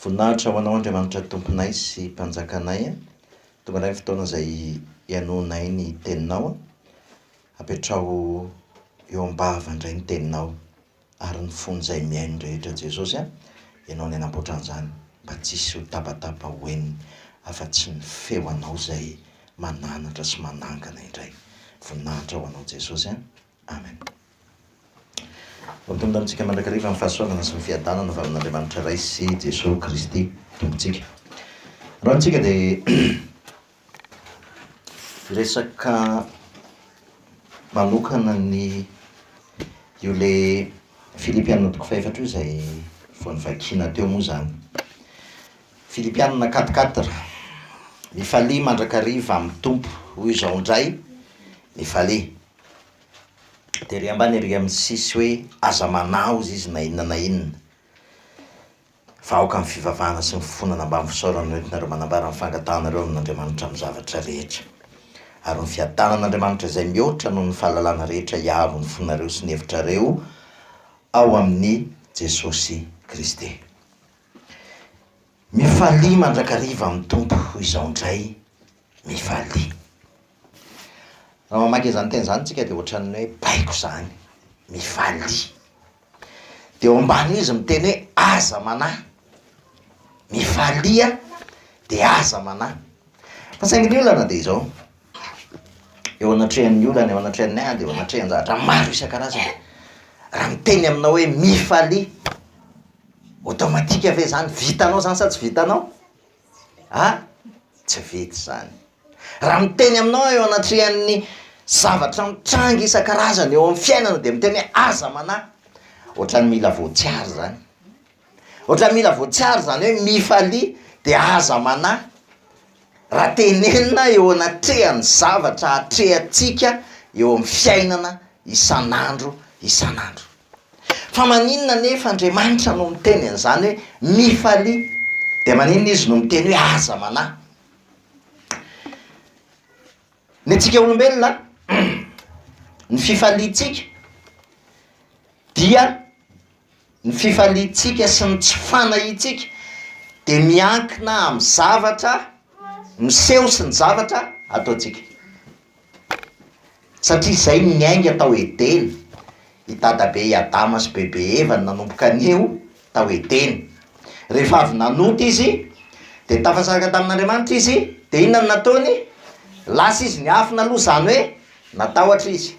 Voninahitra ho Anao Andriamanitra Tomponay sy Mpanjakanay a! Tonga indray ny fotoana izay hihainoanay ny Teninao a! Apetraho eo am-bava indray ny Teninao ary ny fon'izay mihaino rehetra Jesosy a! Ianao no nanamboatra an'izany mba tsy hisy ho tabataba ho henony afa-tsy ny feo Anao izay mananatra sy manangana indray. Voninahitra ho Anao Jesosy a! Amen. Ho tonda amintsika mandrakariva ny fahasoavana sy ny fiadanana avy amin'Andriamanitra Ray sy Jesoa Kristy Tompontsika. Androany tsika dia hiresaka manokana ny io le Filipianina toko fahefatra io izay vao nivakiana teo moa izany. Filipianina quatre quatre, mifalia mandrakariva amin'ny Tompo, hoy izao indray, mifalia. Dia ery ambany ery amin'ny sisy hoe aza manaoza izy na inona na inona. Fa aoka ny fivavahana sy ny fifonana ambany fisaorana no entinareo manambara ny fangatahanareo amin'Andriamanitra amin'ny zavatra rehetra. Ary ny fiadanan'Andriamanitra izay mihoatra noho ny fahalalana rehetra hiaro ny fonareo sy ny hevitrareo ao amin'i Jesosy Kristy. Mifalia mandrakariva amin'ny Tompo izao indray. Mifalia. Raha mamaky izany teny izany tsika dia ohatran'ny hoe baiko izany mivalia. Dia eo ambany izy miteny hoe aza manahy. Mivalia dia aza manahy. Fa saingy ny olana dia izao, eo anatrehan'ny olana, eo anatrehan'ny ady, eo anatrehan-javatra maro isan-karazany, raha miteny aminao hoe mifalia, automatique ve izany, vitanao izany sa tsy vitanao? A! tsy vita izany. Raha miteny aminao aho eo anatrehan'ny zavatra mitranga isan-karazany eo amin'ny fiainana dia miteny hoe aza manahy, ohatran'ny mila voatsiary izany, ohatran'ny mila voatsiary izany hoe mifalia dia aza manahy, raha tenenina eo anatrehan'ny zavatra atrehantsika eo amin'ny fiainana isan'andro isan'andro. Fa maninona anefa Andriamanitra no miteny an'izany hoe mifalia? Dia maninona Izy no miteny hoe aza manahy? Ny antsika olombelona, ny fifaliantsika dia ny fifaliantsika sy ny tsy fanahintsika dia miankina amin'ny zavatra miseho sy ny zavatra ataontsika. Satria izay no niainga tao Edena. I Dadabe i Adama sy Bebe Eva no nanomboka anio tao Edena. Rehefa avy nanota izy, dia tafasaraka tamin'Andriamanitra izy, dia inona no nataony? Lasa izy niafina aloha, izany hoe natahotra izy,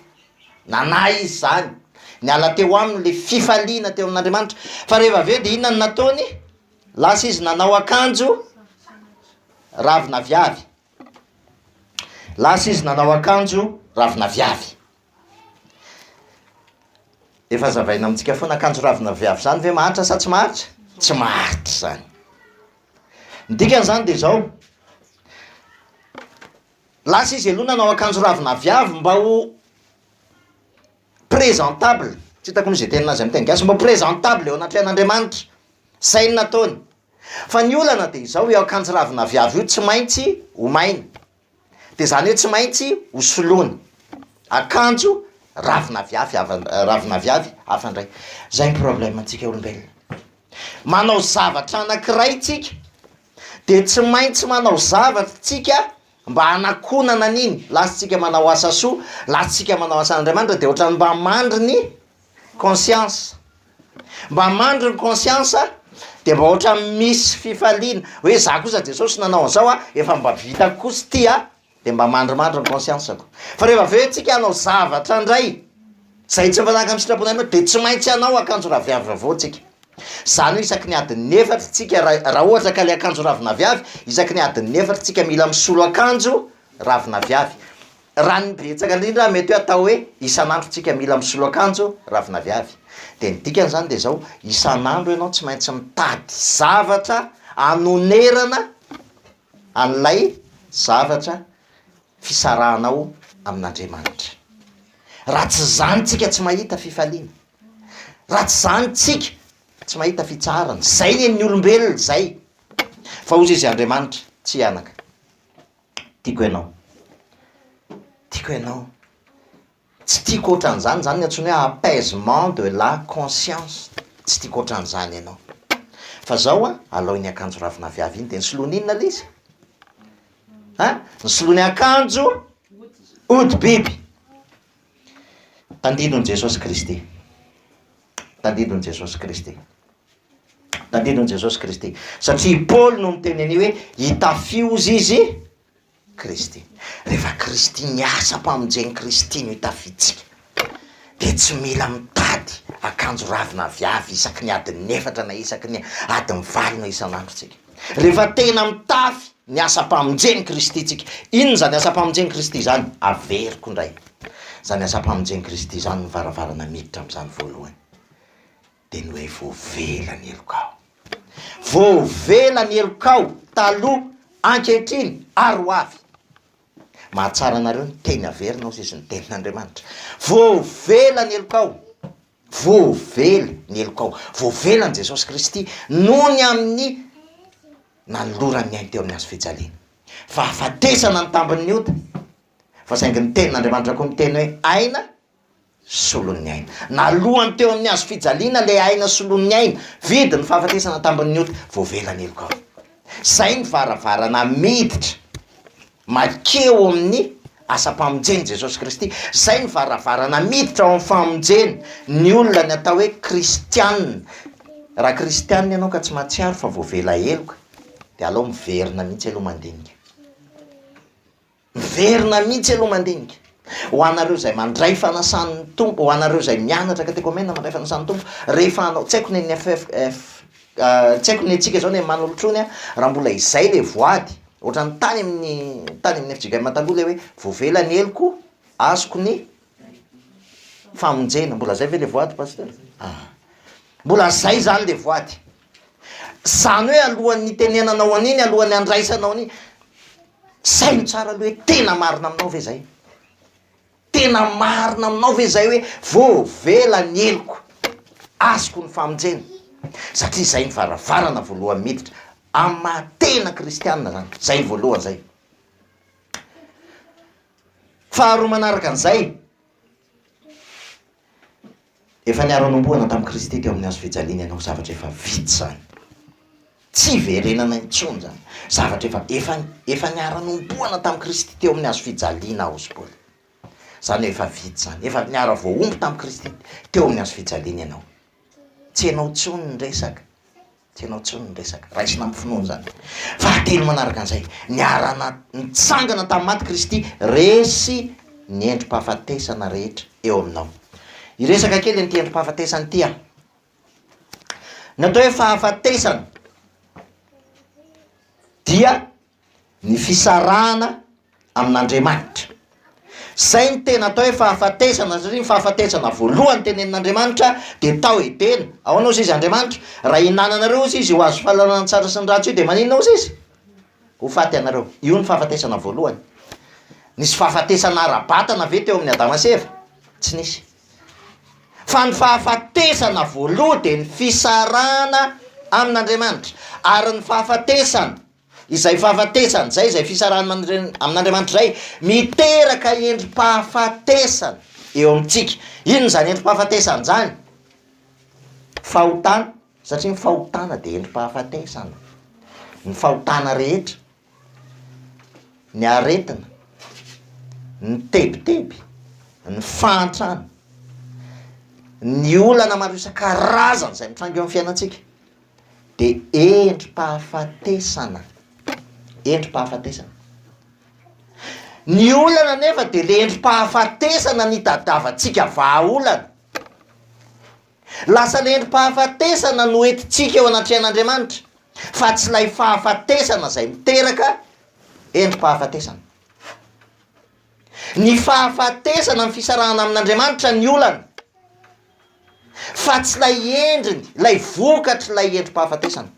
nanahy izy izany, niala teo aminy ilay fifaliana teo amin'Andriamanitra. Fa rehefa avy eo dia inona no nataony? Lasa izy nanao akanjo ravina aviavy. Lasa izy nanao akanjo ravin'aviavy. Efa zavaina amintsika foana akanjo ravin'aviavy izany ve mahantra sa tsy mahantra? Tsy mahantra izany. Ny dikany izany dia izao, lasa izy aloha nanao akanjo ravin'aviavy mba ho présentable, tsy hitako moa izay teny nazy amin'ny teny gasy, mba ho présentable eo anatrehan'Andriamanitra, izay no nataony. Fa ny olana dia izao, io akanjo ravin'aviavy io tsy maintsy omaina, dia izany hoe tsy maintsy hosoloana akanjo ravin'aviavy hafa, ravin'aviavy hafa indray. Izay ny problème-ntsika olombelona. Manao zavatra anankiray tsika dia tsy maintsy manao zavatra tsika mba hanakonana an'iny, lasantsika manao asa soa, lasantsika manao asan'Andriamanitra dia ohatran'ny mba mandry ny Conscience. Mba mandry ny conscience dia mba ohatran'ny misy fifaliana hoe za kosa Jesosy nanao an'zao a, efa mba vitako kosa ity a, dia mba mandrimandry ny conscience-ko. Fa rehefa avy eo tsika hanao zavatra ndray zay tsy mifanaraka amin'ny sitrapon' Andriamanitra dia tsy maintsy hanao akanjo raviavy vaovao tsika. Zany hoe isaky ny adin'ny efatra tsika ra- raha ohatra ka le akanjo ravinaviavy isaky ny adin'ny efatra tsika mila misolo akanjo ravinaviavy. Raha ny betsaka indrindra mety hoe atao hoe isan'andro tsika mila misolo akanjo ravin'aviavy dia ny dikany izany dia izao, isan'andro ianao tsy maintsy mitady zavatra hanonerana an'ilay zavatra fisarahanao amin'Andriamanitra. Raha tsy izany tsika tsy mahita fifaliana, raha tsy izany tsika tsy mahita fitsaharana, izay ny an'ny olombelona izay, fa hozy izy Andriamanitra, tsy hianaka. Tiako ianao Tiako ianao Tsy tiako ohatran'izany, izany no antsoina hoe apaisement de la conscience, tsy tiako ohatran'izany ianao Fa izao an, alao iny akanjo ravinaviavy iny dia ny solony inona ilay izy? an! ny solony akanjo hodi-biby Tandindon'i Jesosy Kristy Tandindon'i Jesosy Kristy Tadidio an'i Jesosy Kristy. Satria i Paoly no niteny an'io hoe, hitafio hozy izy Kristy. Rehefa Kristy miasa am-pamonjen'i Kristy no hitafiantsika, dia tsy mila mitady akanjo ravina aviavy isaky ny adin'ny efatra na isaky ny adin'ny valo na isan'andro tsika. Rehefa tena mitafy ny asam-pamonjen'i Kristy tsika, inona izany asam-pamonjen'i Kristy izany? Averiko indray. Izany asam-pamonjen'i Kristy izany no varavarana miditra amin'izany voalohany. dia ny hoe voavela ny helokao. Voavela ny helokao taloha, ankehitriny ary ho avy. Mahatsara anareo ny teny averina hozy izy ny tenin'Andriamanitra. Voavela ny helokao. Voavela ny helokao. Voavela an'i Jesosy Kristy noho ny amin'ny nanolorany ny ainy teo amin'ny hazo fijaliana. Fahafatesana ny tambin'ny ota. Fa saingy ny tenin'Andriamanitra koa miteny hoe aina solon'ny aina. Nalohany teo amin'ny hazo fijaliana ilay aina solon'ny aina, vidy ny fahafatesana tambin'ny ota, voavela ny heloka ao. Izay ny varavarana miditra makeo amin'ny asam-pamonjen'i Jesosy Kristy, izay ny varavarana miditra ao amin'ny famonjena ny olona ny atao hoe kristianina. Raha kristianina ianao ka tsy mahatsiaro fa voavela heloka dia alao miverina mihitsy aloha mandinika. Miverina mihitsy aloha mandinika, ho anareo izay mandray fanasan'ny Tompo, ho anareo izay mianatra katekomena mandray fanasan'ny Tompo, rehefa hanao, tsy haiko ny an'ny FFF, tsy haiko ny antsika izao ny an'i Manolotrony an, raha mbola izay ilay voady, ohatran'ny tany amin'ny, tany amin'ny FJKM taloha ilay hoe voavela ny heloko, azoko ny famonjena, mbola izay ve ilay voady Pasitera? ah, mbola izay izany ilay voady, izany hoe alohan'ny hitenenanao an'iny, alohan'ny handraisanao an'iny, Saino tsara aloha hoe tena marina aminao ve izay? Tena marina aminao ve izay hoe voavela ny heloko, azoko ny famonjena? Satria izay ny varavarana voalohany miditra amin'ny maha tena kristianina izany, izay ny voalohany izay. Faharoa manaraka an'izay, Efa niaro hanombohana tamin'i Kristy teo amin'ny hazo fijaliana ianao, zavatra efa vita izany. Tsy hiverenana intsony izany. Zavatra efa, efa, efa niaro hanombohana tamin'i Kristy teo amin'ny hazo fijaliana aho, hoy i Paoly. Izany hoe efa vita izany. Efa niaro voahombo tamin'i Kristy teo amin'ny hazo fijaliana ianao. Tsy ianao intsony ny resaka. Tsy ianao intsony no resaka. Raisina amin'ny finoana izany. Fahatelo manaraka an'izay, niarana nitsangana tamin'ny maty Kristy. Resy ny endri-pahafatesana rehetra eo aminao. Hiresaka kely an'ity endri-pahafatesana ity aho. Ny atao hoe fahafatesana dia. ny fisarahana amin'Andriamanitra. Izay no tena atao hoe fahafatesana satria ny fahafatesana voalohany tenenin'Andriamanitra dia tao Edena. Ahoana ozy izy Andriamanitra? Raha ihinananareo ozy izy ho azo fahalalana ny tsara sy ny ratsy io dia maninona ozy izy? Ho faty ianareo. Io no fahafatesana voalohany. Nisy fahafatesana ara-batana ve teo amin'ny Adama sy Eva? Tsy nisy. Fa ny fahafatesana voaloha dia ny fisarahana amin'Andriamanitra. Ary ny fahafatesana Izay fahafatesana, izay izay fisarahana amin'Andriamanitra izay, miteraka endri-pahafatesana eo amintsika. Inona izany endri-pahafatesana izany? Fahotana, satria ny fahotana dia endri-pahafatesana. Ny fahotana rehetra, ny aretina, ny tebiteby, ny fahantrana, ny olana maro isan-karazany izay mitranga eo amin'ny fiainantsika. dia endri-pahafatesana, endri-pahafatesana. Ny olana anefa dia le endri-pahafatesana nitadiavantsika vahaolana, lasa le endri-pahafatesana no entintsika eo anatrehan'Andriamanitra fa tsy ilay fahafatesana izay miteraka endri-pahafatesana. Ny fahafatesana amin'ny fisarahana amin'Andriamanitra ny olana, fa tsy ilay endriny, ilay vokatr'ilay endri-pahafatesana.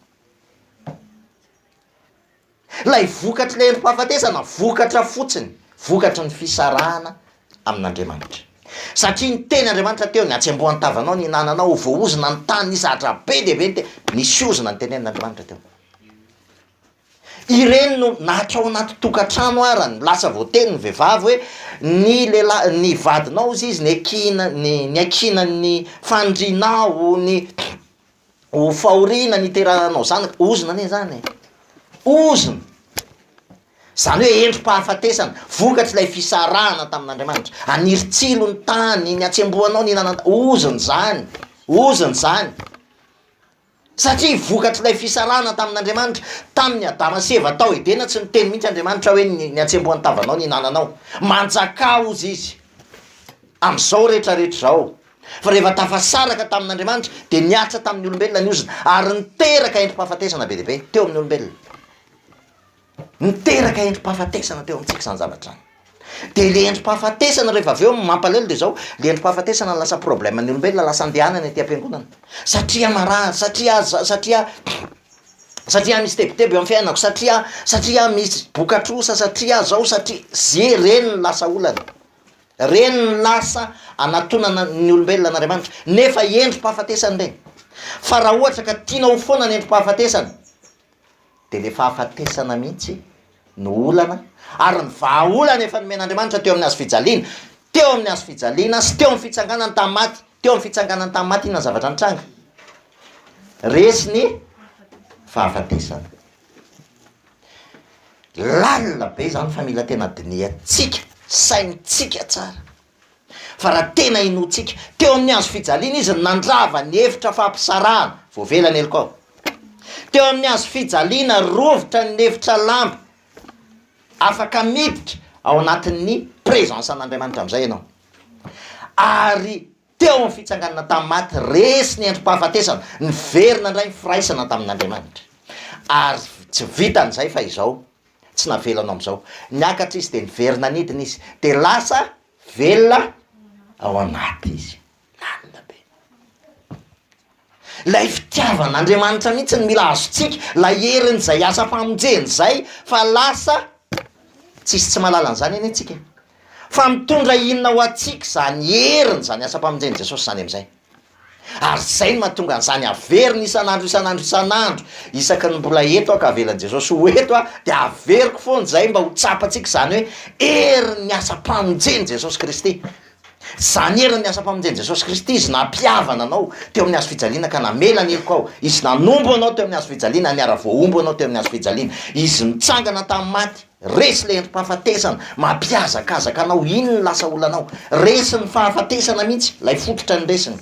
Ilay vokatr'ilay endri-pahafatesana, vokatra fotsiny, vokatry ny fisarahana amin'Andriamanitra. Satria ny teny Andriamanitra teo, ny hatsembohan-tavanao nihinananao, ho voahozona ny tany, ny zatra be dia be ny teny, nisy ozona notenenin'Andriamanitra teo. Ireny no natra ao anaty tokantrano ara no lasa voateny ny vehivavy hoe ny lehilahy ny vadinao hozy izy niakiana ny niakiana ny fanirianao ny ho fahoriana ny hiterahanao zanaka, ozona anie zany e, ozona, zany hoe endri-pahafatesana, vokatr'ilay fisarahana tamin'Andriamanitra, haniry tsilo ny tany ny hatsembohanao ny hihinanana ny tany, ozona zany, ozona zany. Satria vokatr'ilay fisarahana tamin'Andriamanitra, tamin'i Adama sy Eva tao Edena, tsy niteny mihitsy Andriamanitra hoe, Ny hatsembohan'ny tavanao no ihinananao. Manjakà, hozy Izy, amin'izao rehetra rehetra izao. Fa rehefa tafasaraka tamin'Andriamanitra, dia niaritra tamin'ny olombelona ny ozona, ary niteraka endri-pahafatesana be dia be teo amin'ny olombelona. Niteraka endri-pahafatesana teo amintsika izany zavatra izany, dia le endri-pahafatesana rehefa avy eo ny mampalahelo dia zao, le endri-pahafatesana no lasa problème-n'ny olombelona, lasa andehanany aty am-piangonana, satria marary, satria aza, satria satria misy tebiteby eo amin'ny fiainako, satria satria misy boka-trosa, satria zao, satria ze, reny no lasa olana, reny no lasa anatonana ny olombelona an'Andriamanitra, nefa endri-pahafatesana ireny, fa raha ohatra ka tianao foana ny endri-pahafatesana, dia ilay fahafatesana mihitsy no olana ary ny vahaolana efa nomen'Andriamanitra teo amin'ny hazo fijaliana, teo amin'ny hazo fijaliana sy teo amin'ny fitsanganany tamin'ny maty, teo amin'ny fitsanganany tamin'ny maty inona ny zavatra nitranga? Resy ny fahafatesana. Lalina be izany fa mila tena dinihantsika, saintsika tsara. Fa raha tena inoantsika, teo amin'ny hazo fijaliana izy no nandrava ny efitra fampisarahana, voavela ny helokao. Teo amin'ny hazo fijaliana, rovitra ny efitra lamba, afaka miditra ao anatin'ny presence an'Andriamanitra amin'izay ianao. Ary teo amin'ny fitsanganana tamin'ny maty, resy ny endri-pahafatesana, niverina indray ny firaisana tamin'Andriamanitra. Ary tsy vitan'izay fa izao, tsy navelano amin'izao. Niakatra izy dia niverina nidina izy, dia lasa velona ao anaty izy. Marina be. Ilay fitiavan'Andriamanitra mihitsy no mila azontsika, ilay herin'izay asa famonjeny izay, fa lasa tsisy tsy mahalala an'izany anie tsika e! Fa mitondra inona ho antsika izany herin'izany asam-pamonjen'i Jesosy izany amin'izay? Ary izay no mahatonga an'izany averiny isan'andro isan'andro isan'andro, isaky ny mbola eto aho ka avelan'i Jesosy ho eto aho dia averiko foana izay mba ho tsapantsika izany hoe herin'ny asam-pamonjen'i Jesosy Kristy. Izany herin'ny asam-pamonjen'i Jesosy Kristy, Izy nampihavana anao teo amin'ny hazofijaliana ka namela ny heloka ao, Izy nanompo anao teo amin'ny hazofijaliana, niara-voahombo anao teo amin'ny hazofijaliana, Izy nitsangana tamin'ny maty, Resy ilay endri-pahafatesana, mampihazakazaka anao, iny no lasa olanao. Resy ny fahafatesana mihitsy, ilay fototra ny resiny.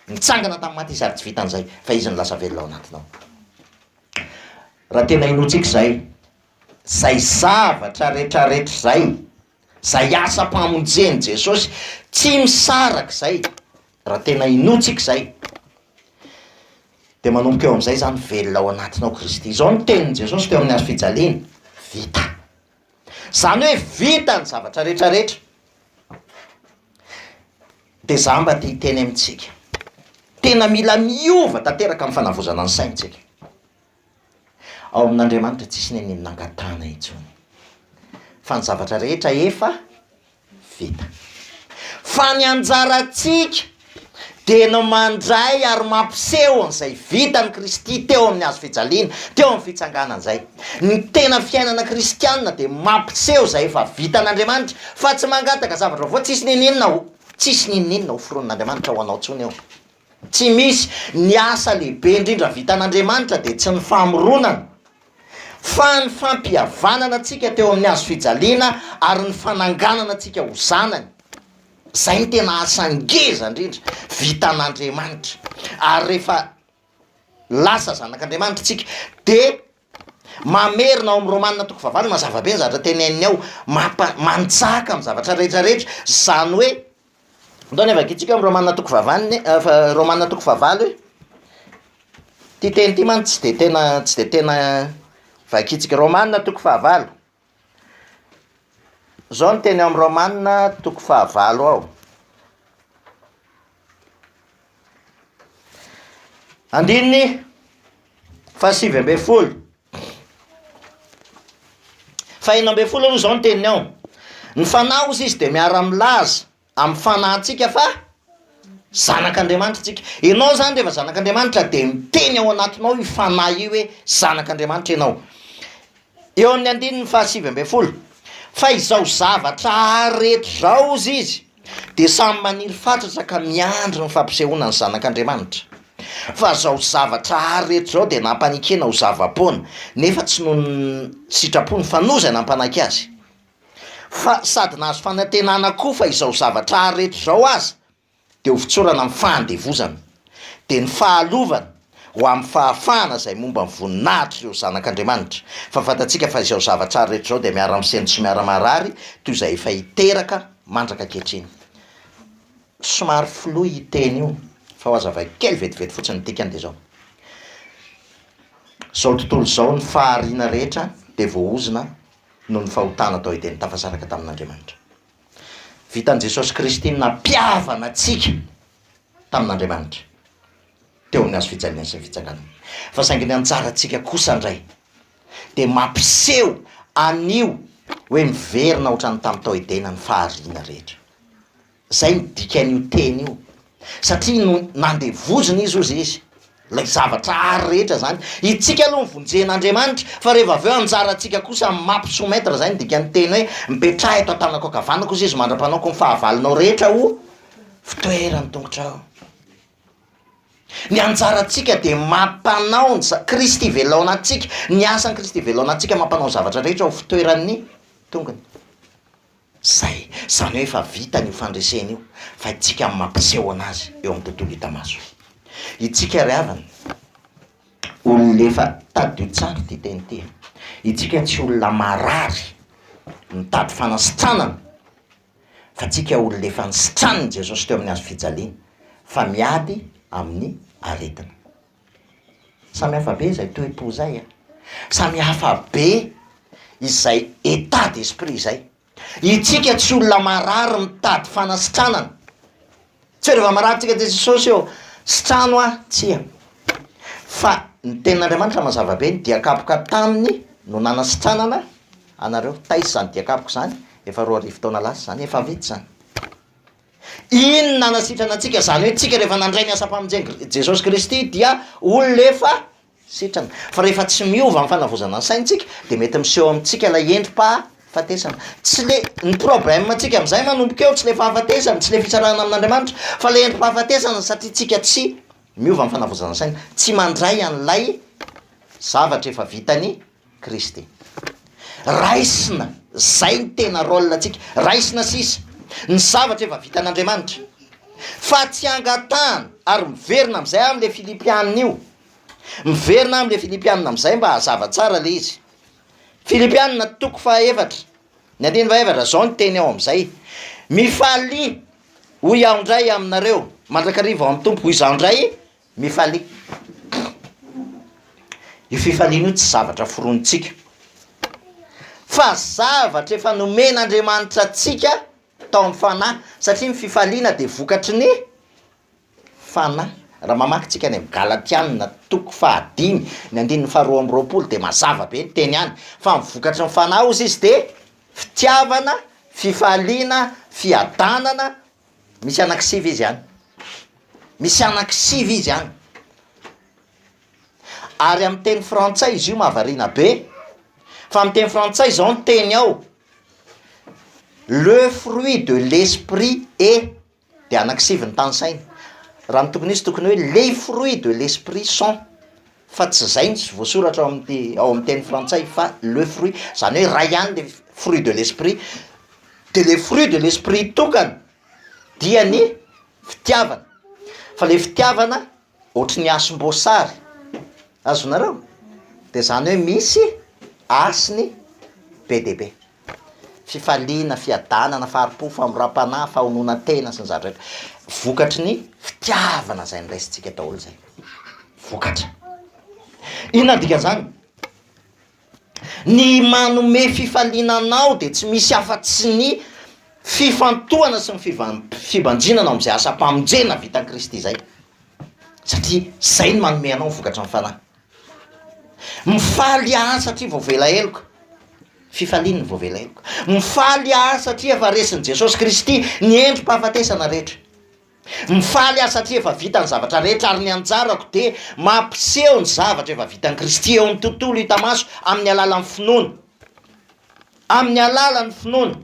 Nitsangana tamin'ny maty izy ary tsy vitan'izay fa izy no lasa velona ao anatinao. Raha tena hinoantsika izay, izay zavatra rehetrarehetra izay, izay asam-pamonjen'i Jesosy, tsy misaraka izay Raha tena inoa tsika izay, dia manomboka eo amin'izay izany velona ao anatinao Kristy. Izao no tenin'i Jesosy teo amin'ny hazo fijaliana, Vita. Izany hoe vita ny zavatra rehetra rehetra. Dia izaho mba te hiteny amintsika, tena mila miova tanteraka amin'ny fanavozana ny saintsika. Ao amin'Andriamanitra tsisy ny an'iny nangatahana intsony, fa ny zavatra rehetra efa vita. Fa ny anjarantsika dia ny mandray ary mampiseho an'izay vitan'i Kristy teo amin'ny hazo fijaliana, teo amin'ny fitsanganany izay. Ny tena fiainana kristianina dia mampiseho izay efa vitan'Andriamanitra, fa tsy mangataka zavatra vaovao, tsisy n'inon'inona ho, tsisy n'inon'inona hoforonin'Andriamanitra ho anao intsony eo. Tsy misy. Ny asa lehibe indrindra vitan'Andriamanitra dia tsy ny famoronana, fa ny fampihavanana antsika teo amin'ny hazo fijaliana ary ny fananganana antsika ho zanany. Izay no tena asa ngeza indrindra vitan'Andriamanitra. Ary rehefa lasa zanak'Andriamanitra isika dia mamerina ao amin'ny Romana toko fahavalo, mazava be ny zavatra teneniny ao, mampa-manjaka amin'ny zavatra rehetra rehetra, izany hoe Ndao ny havakintsika amin'ny Romana toko fahavalony fa- Romana toko fahavalo e, ity teny ity mantsy tsy dia tena tsy dia tena vakintsika, Romana toko fahavalo, izao no teny ao amin'ny Romana toko fahavalo ao: andininy fahasivy ambin'ny folo. Faheno ambin'ny folo aloha izao ny teniny ao. Ny fanahy hozy izy dia miara-milaza amin'ny fanahintsika fa zanak'Andriamanitra isika. Ianao izany rehefa zanak'Andriamanitra dia miteny ao anatinao io fanahy io hoe zanak'Andriamanitra ianao. Eo amin'ny andininy fahasivy ambin'ny folo, fa izao zavatra rehetra izao hozy izy dia samy maniry fatratra ka miandry ny fampisehoana ny Zanak' Andriamanitra. Fa izao zavatra hary rehetra izao dia nampanekena ho zava-poana, nefa tsy noho ny sitrapony fa noho izay nampanaky azy. Fa sady nahazo fanantenana koa fa izao zavatra hary rehetra izao aza dia ho fitsorana amin'ny fahandevozana. Dia ny fahalovana. ho amin'ny fahafahana izay momba ny voninahitr'ireo zanak'Andriamanitra, fa fantatsika fa izao zava-tsara rehetra izao dia miara-misento sy miara-maharary toy izay efa hiteraka mandraka ankehitriny. Somary flou io teny io fa hohazavaiko kely vetivety fotsiny ny dikany dia izao, izao tontolo izao ny fahariana rehetra dia voaozona noho ny fahotana tao Edena tafasaraka tamin'Andriamanitra. Vitan'i Jesosy Kristy ny nampihavana antsika tamin'Andriamanitra. teo amin'ny hazofijaliana sy ny fitsakanana. Fa saingy ny anjarantsika kosa indray dia mampiseho an'io hoe miverina ohatran'ny tamin'ny tao Edena ny fahariana rehetra. Izay no dikan'io teny io, satria no nandevozina izy hozy izy, ilay zavatra àry rehetra izany. Itsika aloha mivonjen'Andriamanitra, fa rehefa avy eo anjarantsika kosa ny mampi-soumettre, izay no dikan'ny teny hoe mipetraha eto an-tanako ankavanako hozy izy mandra-panaoko ny fahavalonao rehetra ho fitoeran'ny tongotrao. Ny anjarantsika dia mampanao ny za- Kristy velona ao anatintsika, ny asan'i Kristy velona ao anatintsika mampanao ny zavatra rehetra ho fitoeran'ny tongony. Zay, zany hoe efa vitany io fandresena io fa itsika no mampiseho anazy eo amin'ny tontolo hita maso. Itsika ry havana, olona efa, tadidio tsara ity teny ity e, itsika tsy olona marary mitady fanasitranana, fa tsika olona efa nisitranin'i Jesosy teo amin'ny hazo fijaliana fa miady amin'ny aretina. Samy hafa be izay toe-po izay a! Samy hafa be izay état d'esprit izay. Itsika tsy olona marary mitady fanasitranana Tsy hoe reva mararintsika aty Jesosy eo sy trano aho, tsia, fa ny tenin'Andriamanitra mazava be, ny diakapoka taminy no nanasitranana anareo, taiza izany diakapoka izany? efa roa arivo taona lasa izany, efa vita izany, iny no nanasitrana antsika, izany hoe tsika rehefa nandray ny asam-pamonjena Jesosy Kristy dia olona efa sitrana. Fa rehefa tsy miova ny fanavozana ny saintsika dia mety miseho amintsika ilay endri-pahafatesana. Tsy le, ny problème antsika amin'izay manomboka eo tsy le fahafatesana, tsy le fisarahana amin'Andriamanitra fa le endri-pahafatesana satria tsika tsy miova ny fanavozana ny saina, tsy mandray an'ilay zavatra efa vitan'i Kristy. Raisina, zay ny tena rôle antsika, raisina sisa ny zavatra efa vitan'Andriamanitra, fa tsy angatahana, ary miverina amizay aho amle Filipianina io, miverina aho amle Filipianina amizay mba hazava tsara le izy, Filipianina toko faha efatra ny andiny faha efatra zao ny teny ao amizay, Mifalia hoy aho ndray aminareo mandrakariva ao amin'ny Tompo, hoy izaho ndray Mifalia. Io fifaliana io tsy zavatra foronintsika, fa zavatra efa nomen'Andriamanitra antsika tao amin'ny fanahy, satria ny fifaliana dia vokatry ny fanahy. Raha mamaky tsika any amin'ny Galatiana toko fahadimy ny andininy faharoa amby roapolo dia mazava be ny teny any, fa ny vokatry ny fanahy ozy izy dia fitiavana, fifaliana, fiadanana, Misy anaky sivy izy any. Misy anaky sivy izy any. Ary amin'ny teny frantsay izy io mahavariana be, fa amin'ny teny frantsay izao ny teny ao, le fruit de l'esprit est dia anaky sivy ny tanisaina. Raha ny tokony ho izy tokony hoe les fruits de l'esprit sont. fa tsy zay ny voasoratra ao amin'ny ao amin'ny teny frantsay fa le fruit zany hoe ray ihany le fruit de l'esprit de le fruit de l'esprit tokana dia ny fitiavana fa le fitiavana ohatry ny hasim-boasary azonareo de zany hoe misy hasiny be dia be. fifaliana, fiadanana, fahari-po, famoram-panahy, fahononan-tena sy ny zara rahetra. Vokatry ny fitiavana izay noraisintsika daholo izay. Vokatra. Inona ny dikan'izany? Ny manome fifaliana anao dia tsy misy afa-tsy ny fifantohana sy ny fivan- fibanjinana ao amin'izay asam-pamonjena vitan'i Kristy izay. Satria izay no manome anao ny vokatry ny fanahy. Mifaly ahy satria voavela heloka, fifaliany ny voavela heloka. Mifaly ahy satria efa resin'i Jesosy Kristy ny endri-pahafatesana rehetra. Mifaly aho satria efa vita ny zavatra rehetra ary ny anjarako dia mampiseho ny zavatra efa vitan'i Kristy eo amin'ny tontolo hita maso amin'ny alalan'ny finoana, amin'ny alalan'ny finoana.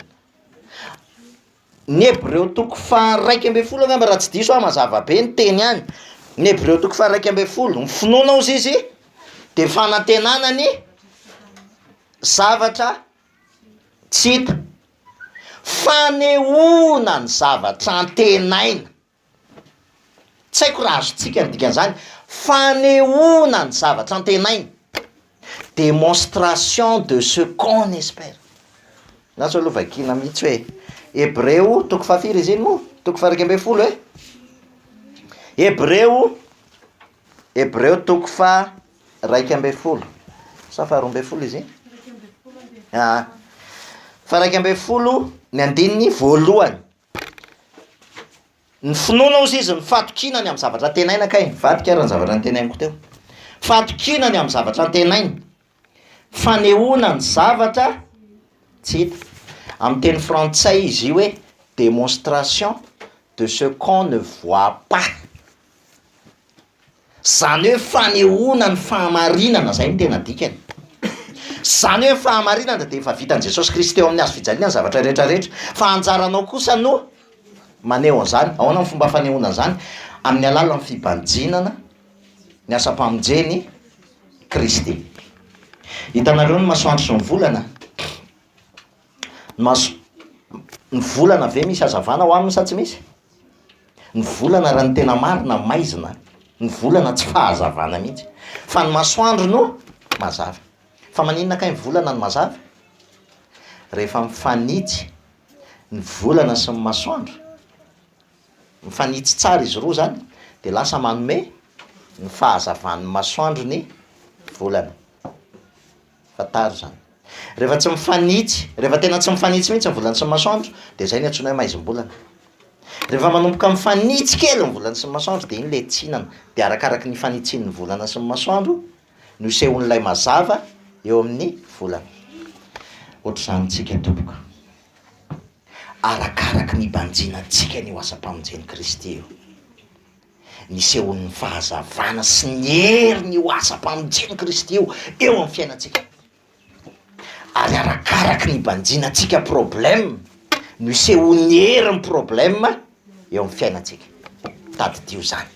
Ny Hebreo toko faharaika ambin'ny folo angamba raha tsy diso aho, mazava be ny teny any, ny Hebreo toko faharaika ambin'ny folo, ny finoana hozy izy dia fanantenana ny zavatra tsy hita, fanehoana ny zavatra antenaina. Tsy haiko raha azontsika ny dikan'izany, fanehoana ny zavatra antenaina, démonstration de ce qu'on espère, na sao aloha vakiana mihitsy hoe Hebreo toko fahafiry izy iny moa? toko faha-iraika ambin'ny folo e? Hebreo, Hebreo toko faha-iraika ambin'ny folo sa faharoa ambin'ny folo izy iny? Iraika ambin'ny folo ambin'ny folo. Aa! faha-iraika ambin'ny folo ny andininy voalohany, Ny finoana ozy izy ny fatokiana ny amin'ny zavatra antenaina kay nivadika ary ny zavatra nitenainiko teo. Fatokiana ny amin'ny zavatra antenaina, fanehoana ny zavatra tsy hita. Amin'ny teny frantsay izy io hoe démonstration de ce qu'on ne voit pas. Izany hoe fanehoana ny fahamarinana, izay no tena dikany. Izany hoe ny fahamarinana dia efa vitan'i Jesosy Kristy teo amin'ny hazo fijaliana ny zavatra rehetra rehetra, fa anjaranao kosa no maneho an'izany. Ahoana ny fomba fanehoana an'izany? Amin'ny alalan'ny fibanjinana ny asam-pamonjen'i Kristy. Hitanareo ny masoandro sy ny volana? Ny maso, ny volana ve misy hazavana ao aminy sa tsy misy? Ny volana raha ny tena marina maizina, ny volana tsy fahazavana mihitsy fa ny masoandro no mazava, fa maninona kay ny volana no mazava? Rehefa mifanitsy ny volana sy ny masoandro, mifanitsy tsara izy roa zany dia lasa manome ny fahazavan'ny masoandro ny volana. Fantaro izany. Rehefa tsy mifanitsy, rehefa tena tsy mifanitsy mihitsy ny volany sy ny masoandro dia izay no antsoina hoe maizim-bolana. Rehefa manomboka mifanitsy kely ny volany sy ny masoandro dia iny ilay tsinana. Dia arakaraky ny fanitsian'ny volana sy ny masoandro no isehoan'ilay mazava eo amin'ny volana. Ohatr'izany amintsika tompoko. Arakaraky ny banjinantsika ny ho asam-pamonjen'i Kristy io. nisehoan'ny fahazavana sy ny heriny io asam-pamonjen'i Kristy io eo amin'ny fiainantsika, ary arakaraky ny banjinantsika problème no isehoan'ny herin'ny problème eo amin'ny fiainantsika. Tadidio izany,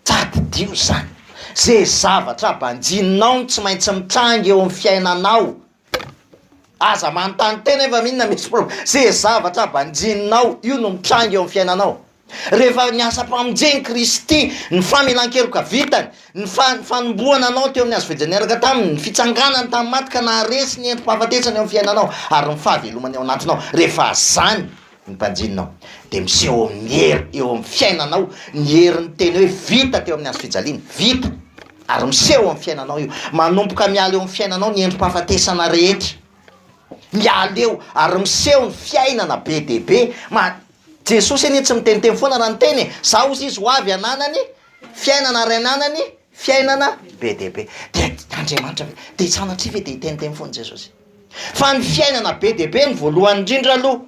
tadidio izany, ze zavatra banjininao no tsy maintsy mitranga eo amin'ny fiainanao. Aza manontany tena efa mino na misy problème, ze zavatra banjininao io no mitranga eo amin'ny fiainanao, rehefa ny asam-pamonjen'i Kristy, ny famelan-keloka vitany, ny fa- ny fanomboana anao teo amin'ny hazo fijaliana niaraka taminy, ny fitsanganany tamin'ny maty ka naharesy ny endri-pahafatesana eo amin'ny fiainanao ary ny fahavelomany ao anatinao, rehefa zany ny mpanjinina ao dia miseho eo amin'ny hery eo amin'ny fiainanao ny herin'ny teny hoe vita teo amin'ny hazofijaliana, vita, ary miseho eo amin'ny fiainanao io, manomboka miala eo amin'ny fiainanao ny endri-pahafatesana rehetra, miala eo ary miseho ny fiainana be dia be, ma, Jesosy anie tsy miteniteny foana raha niteny e, za hozy izy ho avy hananany fiainana ary hananany fiainana be dia be, dia Andriamanitra ve, dia sanatria ve dia hiteniteny foana Jesosy. Fa ny fiainana be dia be no voalohany indrindra aloha.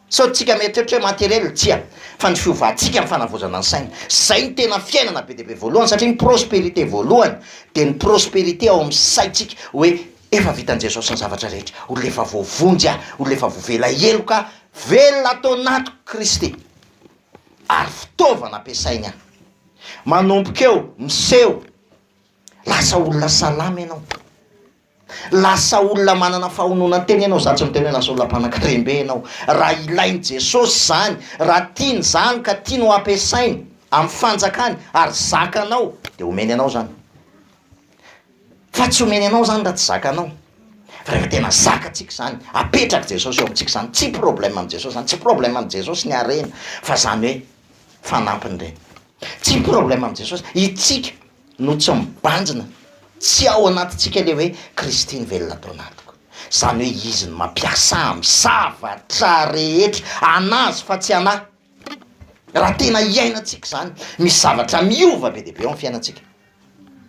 Sao tsika mieritreritra hoe matériel? Tsia, fa ny fiovantsika ny fanavaozana ny saina. Zay no tena fiainana be dia be voalohany satria ny prospérité voalohany dia ny prospérité ao amin'ny saintsika hoe efa vitan'i Jesosy ny zavatra rehetra, olona efa voavonjy aho, olona efa voavela heloka aho, velona ato anatiko Kristy ary fitaovana ampiasainy aho. Manomboka eo, miseho. Lasa olona salama ianao. Lasa olona manana fahononan-tena ianao, zany tsy miteny hoe lasa olona mpanankarem-be ianao, raha ilain'i Jesosy izany, raha tiany izany ka tiany ho ampiasainy amin'ny fanjakany ary zakanao dia omeny anao izany. Fa tsy omeny anao izany raha tsy zakanao. Fa rehefa tena zakatsika izany, apetrak'i Jesosy eo amintsika izany, tsy problème amin'i Jesosy izany, tsy problème amin'i Jesosy ny harena fa izany hoe fanampiny ireny. Tsy problème amin'i Jesosy, isika no tsy mibanjina, tsy ao anatintsika ilay hoe Kristy no velona tao anatiko, izany hoe Izy no mampiasa amin'ny zavatra rehetra, anà Azy fa tsy anà. Raha tena hiainantsika izany, misy zavatra miova be dia be ao amin'ny fiainantsika,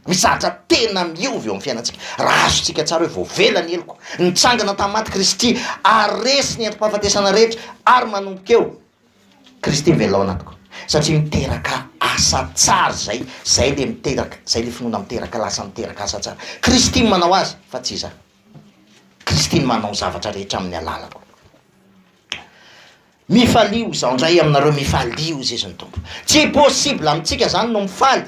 misy zavatra tena miova eo amin'ny fiainantsika, raha azontsika tsara hoe voavela ny heloko, nitsangana tamin'ny maty Kristy ary resy ny endri-pahafatesana rehetra ary manomboka eo Kristy mivelona ao anatiko satria miteraka asa tsara izay, izay ilay miteraka, izay ilay finoana miteraka lasa miteraka asa tsara. Kristy no manao azy fa tsy izaho. Kristy no manao ny zavatra rehetra amin'ny alalako. Mifalio izaho indray aminareo, mifalio, hoy Jesoa ny Tompo. Tsy possible amintsika izany no mifaly.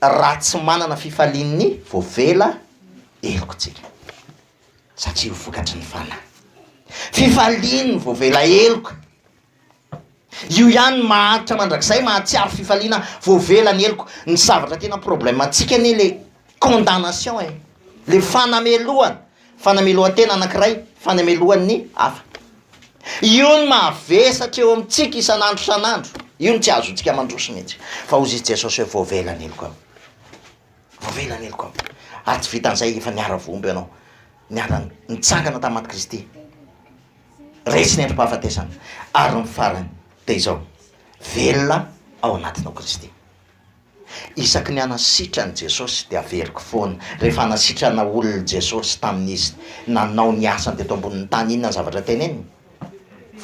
raha tsy manana fifalian'ny voavela heloka tsika satria ho vokatry ny fanahy fifalian'ny voavela heloka io ihany mahantra mandrakizay mahatsiaro fifaliana voavela ny heloka ny zavatra tena problème antsika anie le condamnation e le fanamelohana Fanamelohan-tena anankiray fanamelohan'ny hafa. Io no mahavesatra eo amintsika isan'andro isan'andro. Io no tsy azontsika mandroso mihitsy. Fa hoy i Jesosy hoe voavela ny heloko ao. Voavela ny heloko ao. Ary tsy vitan'izay, efa niara-vohombo ianao, niara-nitsangana tamin'ny matin'i Kristy, resy ny androm-pahafatesana, ary ny farany dia izao, velona ao anatinao Kristy. Isaky ny hanasitrany Jesosy dia averiko foana. Rehefa hanasitrana olona Jesosy tamin'izy nanao ny asany teto ambonin'ny tany inona ny zavatra teneniny?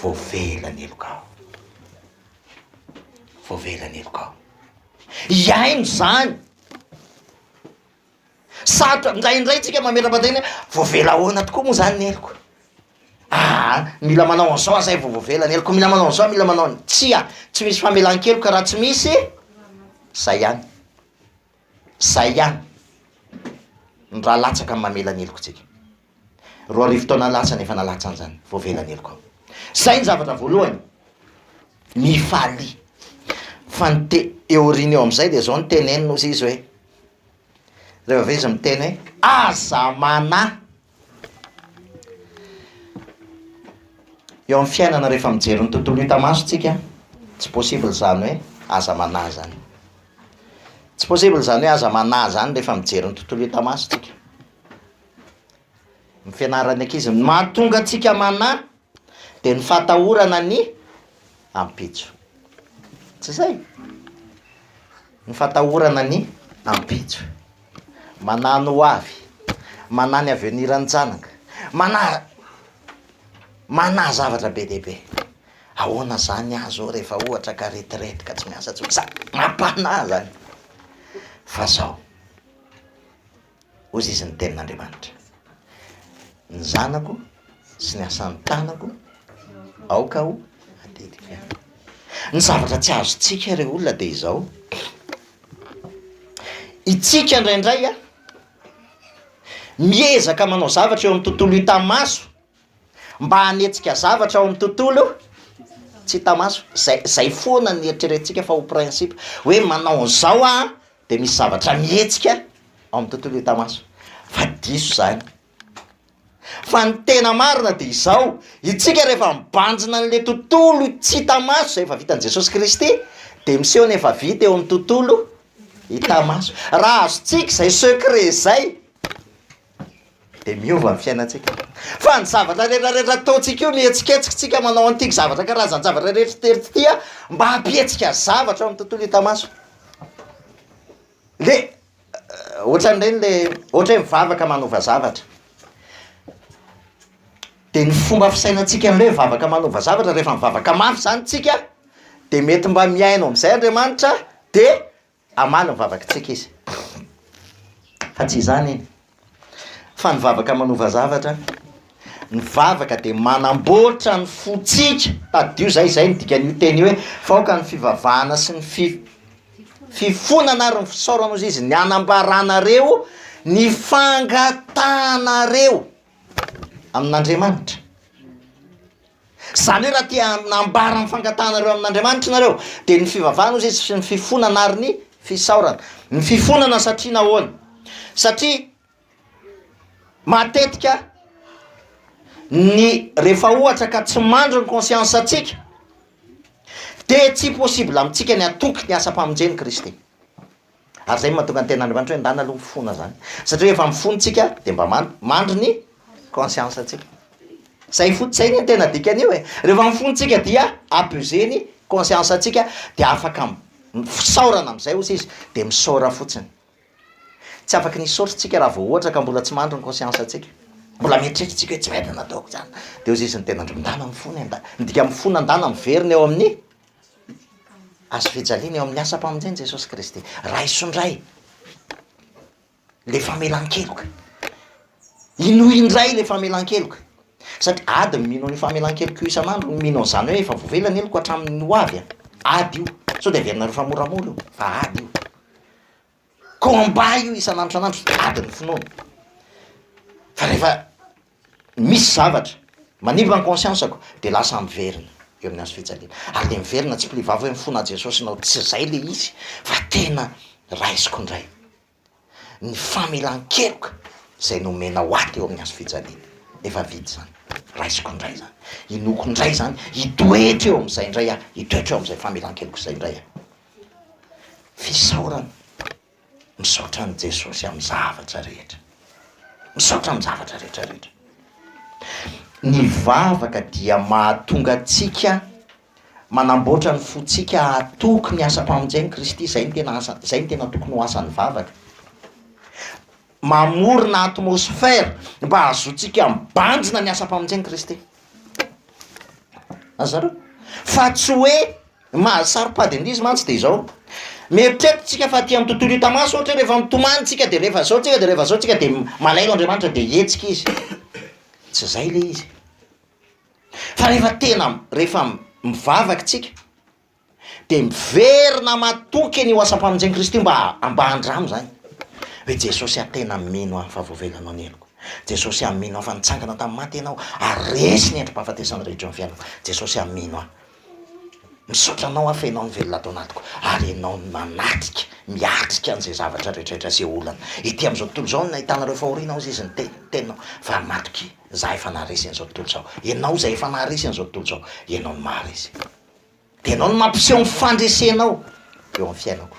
Voavela ny helokao. Voavela ny helokao. Hihaino izany. Sarotra, indraindray tsika mametra-batena hoe voavela ahoana tokoa moa zany ny heloko? Aa mila manao an'izao aho zay vao voavela ny heloko, mila manao an'izao, mila manao an-, tsia, tsy misy famelan-keloka raha tsy misy zay ihany, zay ihany ny raha latsaka amin'ny mamela ny heloka antsika. Roa arivo taona lasa no efa nalatsany izany vao avela ny helokao. Izay ny zavatra voalohany. Mifalia. Fa ny te- eo aoriana eo amin'izay dia izao no teneniny hozy izy hoe, rehefa avy eo izy miteny hoe, aza manahy! Eo amin'ny fiainana rehefa mijery ny tontolo hita maso tsika, tsy possible izany hoe aza manahy izany. Tsy possible izany hoe aza manahy izany rehefa mijery ny tontolo hita maso tsika. ny fianaran'ny ankizy. Ny mahatonga antsika manahy dia ny fahatahorana ny ampitso. Tsy izay? Ny fahatahorana ny ampitso. Manahy ny ho avy, manahy ny avenir ny janaka, manahy manahy zavatra be dia be. Ahoana izany ahy izao rehefa ohatra ka retraite ka tsy miasa intsony? Sa- mampanahy izany fa izao. Hoy izy ny tenin'Andriamanitra, Ny zanako sy ny asan'ny tanako aoka ho atetika. Ny zavatra tsy azontsika ry olona dia izao, Itsika indraindray miezaka manao zavatra eo amin'ny tontolo hita maso, mba hanetsika zavatra ao amin'ny tontolo tsy hita maso, zay zay foana ny eritreretintsika fa ho principe hoe manao an'izao aho dia misy zavatra mihetsika ao amin'ny tontolo hita maso fa diso zany fa ny tena marina dia izao itsika rehefa mibanjina an'le tontolo tsy hita maso izay efa vitan'i Jesosy Kristy dia miseho ny efa vita eo amin'ny tontolo hita maso raha azontsika izay secret izay dia miova ny fiainantsika. Fa ny zavatra rehetrarehetra ataontsika io, ny hetsiketsitsika manao an'ity zavatra karazan-javatra rehetra tery ity a, mba hampihetsika zavatra eo amin'ny tontolo hita maso. Dia ohatran'ireny le ohatra hoe mivavaka manova zavatra, dia ny fomba fisainantsika an'ilay hoe mivavaka manova zavatra, rehefa mivavaka mafy izany isika dia mety mba mihaino amin'izay Andriamanitra dia Hamaly ny vavakitsika izy. Fa tsy izany iny. Fa ny vavaka manova zavatra, ny vavaka dia manamboatra ny fontsika. Tadidio izay, izay no dikan'io teny io hoe, fa aoka ny fivavahana sy ny fi- fifonana ary ny fisaorana, hoy izy, ny hanambaranareo ny fangatahanareo amin'Andriamanitra. Izany hoe raha te hanambara ny fangatahanareo amin'Andriamanitra ianareo, dia ny fivavahana hozy izy sy ny fifonana ary ny fisaorana. Ny fifonana satria nahoana? Satria matetika ny rehefa ohatra ka tsy mandry ny conscience antsika dia tsy possible amintsika ny hatoky ny asam-pamonjen'i Kristy. Ary izay no mahatonga ny tenin'Andriamanitra hoe ndana aloha mifona izany. Satria rehefa mifona isika dia mba mandry, mandry ny conscience antsika. Izay fotsiny, izay anie no tena dikan'io e! Rehefa mifona isika dia abuser ny conscience antsika dia afaka fisaorana amin'izay osa izy dia misaora fotsiny. Tsy afaka ny hisaotra isika raha vao ohatra ka mbola tsy mandry ny conscience antsika. Mbola mieritreritra isika hoe tsy mety nataoko izany. Dia hoy Jesoa ny tenin'Andriamanitra, ndana mifona e, ndana. Ny dikan'ny mifona ndana miverina eo amin'ny Hazo fijaliana eo amin'ny asam-pamonjen'i Jesosy Kristy. Raiso indray ilay famelan-keloka. Inoy indray ilay famelan-keloka. Satria ady ny mino an'io famelan-keloka io isan'andro ny mino an'izany hoe efa voavela ny heloko hatramin'ny ho avy. Ady io. Sao dia averina rehefa moramora io, fa ady io. Combat io isan'andro isan'andro ady ny finoana fa rehefa misy zavatra manimba ny conscience-ko dia lasa miverina eo amin'ny hazofijaliana ary dia miverina tsipy le vava hoe mifona aho Jesosy nao tsy izay le izy fa tena raisiko indray ny famelan-keloka izay nomena ho ahy teo amin'ny hazofijaliana efa vita izany raisiko indray izany inoako indray izany hitoetra eo amin'izay indray aho hitoetra eo amin'izay famelan-keloka izay indray aho Fisaorana, misaotra an'i Jesosy amin'ny zavatra rehetra, misaotra amin'ny zavatra rehetra rehetra. Ny vavaka dia mahatonga antsika manamboatra ny fontsika hahatoky ny asam-pamonjen'i Kristy, izay no tena asa, izay no tena tokony ho asan'ny vavaka. Mamorona atmosphère mba hahazoantsika mibanjina ny asam-pamonjen'i Kristy. Azaleo? Fa tsy hoe Ny maha saropady an'ilay izy mantsy dia izao, mieritreritra isika fa aty amin'ny tontolo hita maso ohatra hoe rehefa mitomany isika dia rehefa izao isika dia rehefa izao isika dia malahelo Andriamanitra dia hihetsika Izy, tsy izay ilay izy e! Fa rehefa tena rehefa mivavaka isika dia miverina matoky an'io asam-pamonjen'i Kristy mba mba handramo izany hoe Jesosy aho tena mino aho fa voavelanao ny heloko, Jesosy aho mino aho fa nitsangana tamin'ny maty Ianao ary resy ny endri-pahafatesana rehetra eo amin'ny fiainako, Jesosy aho mino aho. Misaotra anao aho fa ianao no velona ato anatiko ary ianao no manatrika, miatrika an'izay zavatra rehetrarehetra izay olana. Ety amin'izao tontolo izao no nahitana ireo fahoriana hozy izy niteny ny teninao fa matokia za efa naharesy an'izao tontolo izao. Ianao izay efa naharesy an'izao tontolo izao, ianao no maharesy. Dia ianao no mampiseho ny fandresenao eo amin'ny fiainako.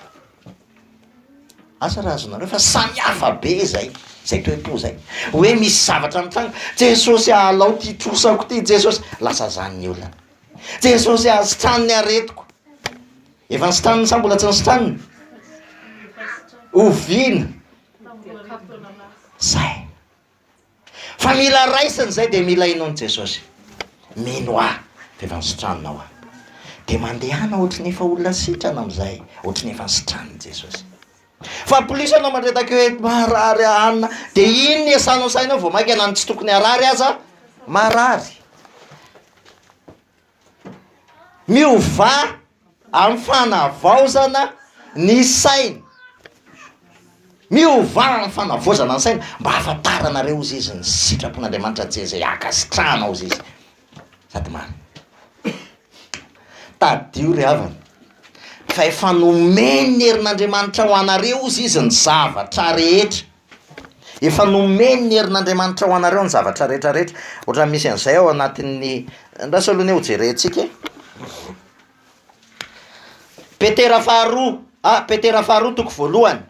Asa raha azonareo fa samy hafa be zay zay toe po zay hoe misy zavatra mitranga Jesosy ah alao ty trosako ty Jesosy lasa zany ny olona Jesosy ah sitrano ny aretiko efa nisitraniny sa mbola tsy nisitraniny oviana zay Fa mila raisina izay dia mila inoan'i Jesosy. Mino ahy dia efa nisitranina ho ahy. Dia mandehana ohatry ny efa olona sitrana amin'izay, ohatry ny efa nisitranin'i Jesosy. Fa plus ianao mandreraka hoe marary anona dia iny ny esanao ny sainao vao mainka na ny tsy tokony harary aza marary. Miovà amin'ny fanavaozana ny saina. Miovà amin'ny fanavaozana ny saina mba hahafantaranareo hozy izy ny sitrapon'Andriamanitra tsy izay hankasitrahana hozy izy sady marina. Tadidio ry havana fa efa nomeny ny herin'Andriamanitra ho anareo hozy izy ny zavatra rehetra. Efa nomeny ny herin'Andriamanitra ho anareo ny zavatra rehetra rehetra. Ohatran'ny misy an'izay ao anatin'ny, andraso aloha anie ho jerentsika e. Petera faharoa a, Petera faharoa toko voalohany,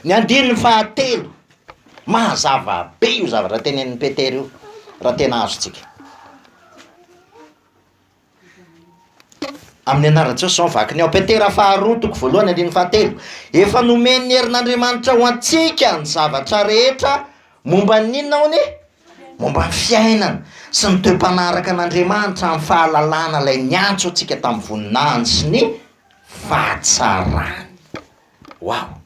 ny andininy fahatelo, mazava be io zavatra tenenin'i Petera io raha tena azontsika. Amin'ny anaran'i Jesosy izao no vakiny ao. Petera faharoa toko voalohany andininy fahatelo. Efa nomen'ny herin'Andriamanitra ho antsika ny zavatra rehetra momba ny inona hono e? Momba ny fiainana sy ny toe-panahy araka an'Andriamanitra amin'ny fahalalana ilay niantso antsika tamin'ny voninahiny sy ny fahatsarany. Waouh!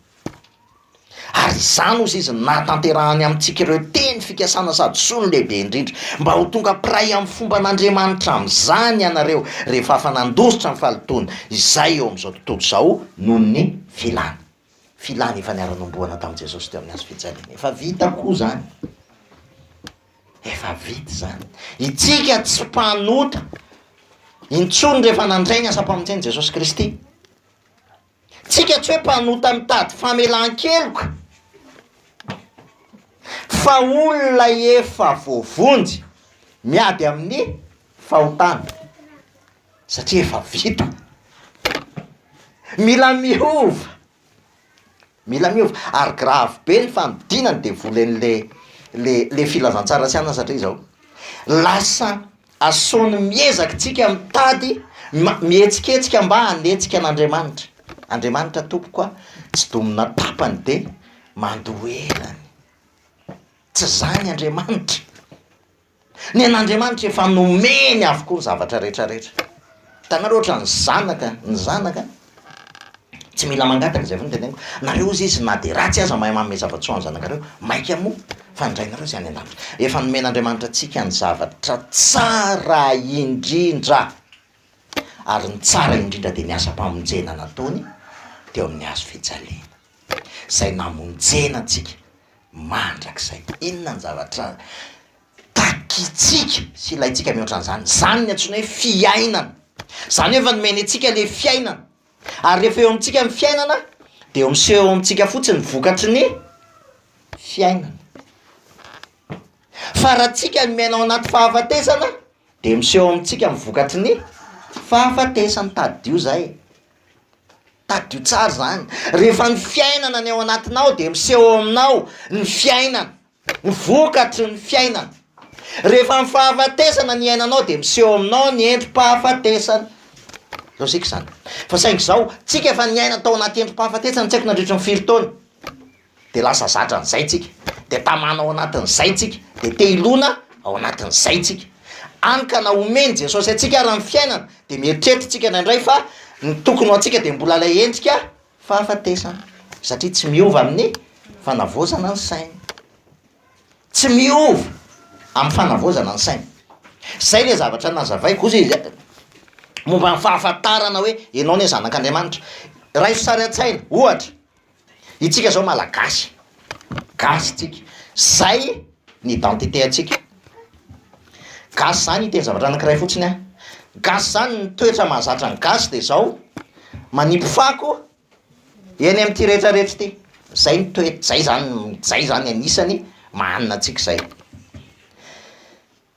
Ary izany, hoy izy, no nahatanterahany amintsika ireo teny fikasana sady soa no lehibe indrindra, mba ho tonga mpiray amin'ny fomban'Andriamanitra amin'izany ianareo, rehefa afa-nandositra ny fahalotoana izay eo amin'izao tontolo izao noho ny filany. Filany efa niara-nohomboana tamin'i Jesosy teo amin'ny hazo fijaliana. Efa vita koa izany. Efa vita izany. Itsika tsy mpanota intsony rehefa nandray ny asam-pamonjena i Jesosy Kristy. Tsika tsy hoe mpanota mitady famelan-keloka fa olona efa voavonjy miady amin'ny fahotana satria efa vita. Mila miova, mila miova ary grave be ny fanodinana ny devoly an'le le le filazantsara sy anona satria izao lasa Asao ny miezakintsika mitady ma, mihetsiketsika mba hanetsika an'Andriamanitra. Andriamanitra tompoko a, tsy domina tapany dia mandoherany. Tsy izany Andriamanitra. Ny an'Andriamanitra efa nomeny avokoa ny zavatra rehetra rehetra. Hitanareo ohatran'ny zanaka, ny zanaka Tsy mila mangataka izay foana ny teneniko, nareo ozy izy na dia ratsy aza mahay manome zava-tsoa ny zanakareo, maika moa fa ny rainareo izay any an-danitra. Efa nomen'Andriamanitra antsika ny zavatra tsara indrindra, ary ny tsara indrindra dia ny asam-pamonjena nataony teo amin'ny hazo fijaliana, izay namonjena antsika mandrakizay. Inona ny zavatra Takitsika sy ilaintsika mihoatra an'izany. Izany no antsoina hoe fiainana. Izany hoe efa nomeny antsika ilay fiainana. Ary rehefa eo amintsika ny fiainana dia eo miseho eo amintsika fotsiny ny vokatry ny fiainana. Fa raha tsika no miaina ao anaty fahafatesana dia miseho eo amintsika ny vokatry ny fahafatesana. Tadidio izay e! Tadidio tsara izany. Rehefa ny fiainana no ao anatinao dia miseho eo aminao ny fiainana. Ny vokatry ny fiainana. Rehefa amin'ny fahafatesana ny iainanao dia miseho aminao ny endri-pahafatesana. Lojika izany. Fa saingy izao, tsika efa niaina tao anaty endri-pahafatesana tsy haiko nandritry ny firy taona, dia lasa zatra an'izay tsika, dia tamana ao anatin'izay tsika, dia te hilona ao anatin'izay tsika. Hany ka na omen'i Jesosy antsika ara ny fiainana dia mieritreritra tsika indraindray fa ny tokony ho antsika dia mbola ilay endrika Fahafatesana, satria tsy miova amin'ny fanavaozana ny saina. Tsy miova amin'ny fanavaozana ny saina. Izay ilay zavatra nazavaiko ozy e, momba ny fahafantarana hoe ianao anie zanak'Andriamanitra. Raiso sary an-tsaina, ohatra, isika izao Malagasy, gasy isika, izay ny identité antsika. Gasy zany hiteny zavatra anankiray fotsiny a, gasy zany ny toetra mahazatra ny gasy dia zao, manipy fako eny amin'ity rehetra rehetra ity, zay ny toet- zay zany zay zany anisany maha hanina antsika zay,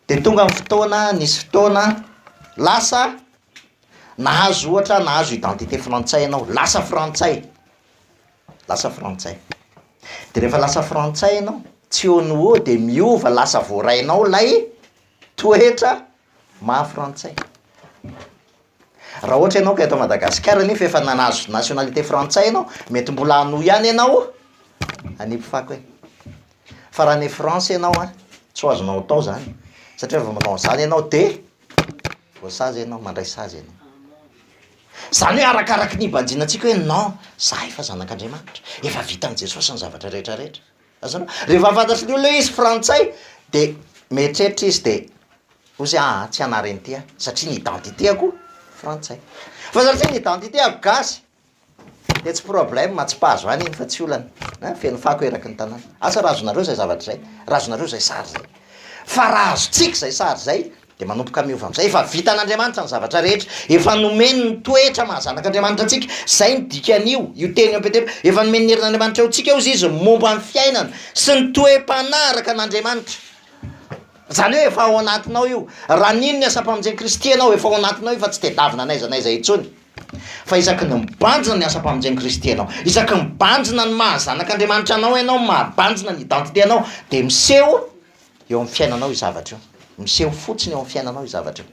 dia tonga ny fotoana nisy fotoana lasa nahazo ohatra nahazo identité frantsay ianao, lasa frantsay. Lasa frantsay. De rehefa lasa frantsay ianao, tsy eo no ho eo dia miova lasa voarainao ilay toetra maha frantsay. Raha ohatra ianao ka eto Madagasikara nefa efa nahazo nationalité frantsay ianao, mety mbola hanohy ihany ianao any mpifako any. Fa raha any France ianao an, tsy ho azonao atao izany satria raha vao manao an'izany ianao dia voasazy ianao, mandray sazy ianao. Izany hoe arakaraky ny hibanjina antsika hoe non, za efa zanak'Andriamanitra, efa vitan'i Jesosy ny zavatra rehetra rehetra. Azonao? Rehefa fantatry ny olona hoe izy frantsay de mieritreritra izy de hoy izy ah tsy hanary an'ity aho satria ny identité-ko frantsay. Fa satria ny identité-ko gasy de tsy problème, tsy mpahazo any iny fa tsy olana, ein, feno fako eraky ny tanàna. Asa raha azonareo zay zavatra zay, raha azonareo zay sary zay. Fa raha azontsika zay sary zay Dia manomboka miova amin'izay. Efa vitan'Andriamanitra ny zavatra rehetra. Efa nomeny ny toetra maha zanak'Andriamanitra antsika. Izay no dikan'io, io teny eo amin'ny Petera. Efa nomeny ny herin'Andriamanitra eo antsika eo izy izy momba ny fiainana sy ny toe-panahy araka an'Andriamanitra. Izany hoe efa ao anatinao io. Raha nino ny asam-pamonjen'i Kristy ianao, efa ao anatinao io fa tsy tedavina n'aiza n'aiza intsony. Fa isaky ny mibanjina ny asam-pamonjen'i Kristy ianao, isaky ny mibanjina ny maha zanak'Andriamanitra anao ianao, maha banjina ny identité anao, dia miseho, Eo amin'ny fiainanao io zavatra io. Miseho fotsiny eo amin'ny fiainanao io zavatra io.